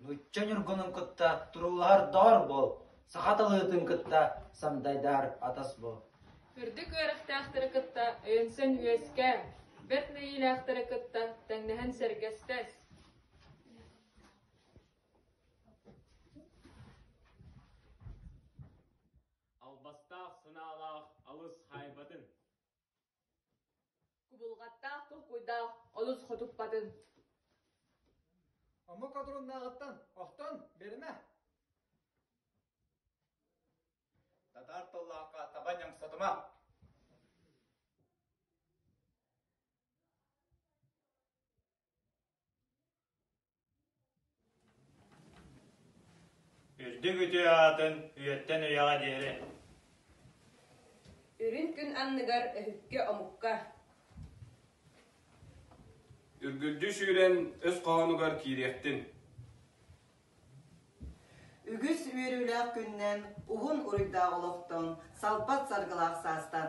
Нуучча ньургунун кытта туруулаһардоор буол, саха тылыытын кытта сандайдаар атас буол. Үрдүк үөрэхтээхтэри кытта өйөнсөн үөскээ, бэрт нэйиилээхтэри кытта тэҥнэһэн сэргэстэс. албастаах санаалаах алыс хаайбатын. Кубулҕаттаах толкуйдаах олус хотуппатын. Омук одуруннааҕыттан охтон берме. Татар тыллаахха таба ньамсатыма. Үрдүк үтүө аатын үйэттэн үйэҕэ диэри. Үрүн күн анныгар өһүккэ-омукка. Үргүлдүү сүүрэн өс хоһоонугар киириэхтин. Үгүс үөрүүлээх күннэн уһун уруйдаах олохтон, салпат саргылаах саастан.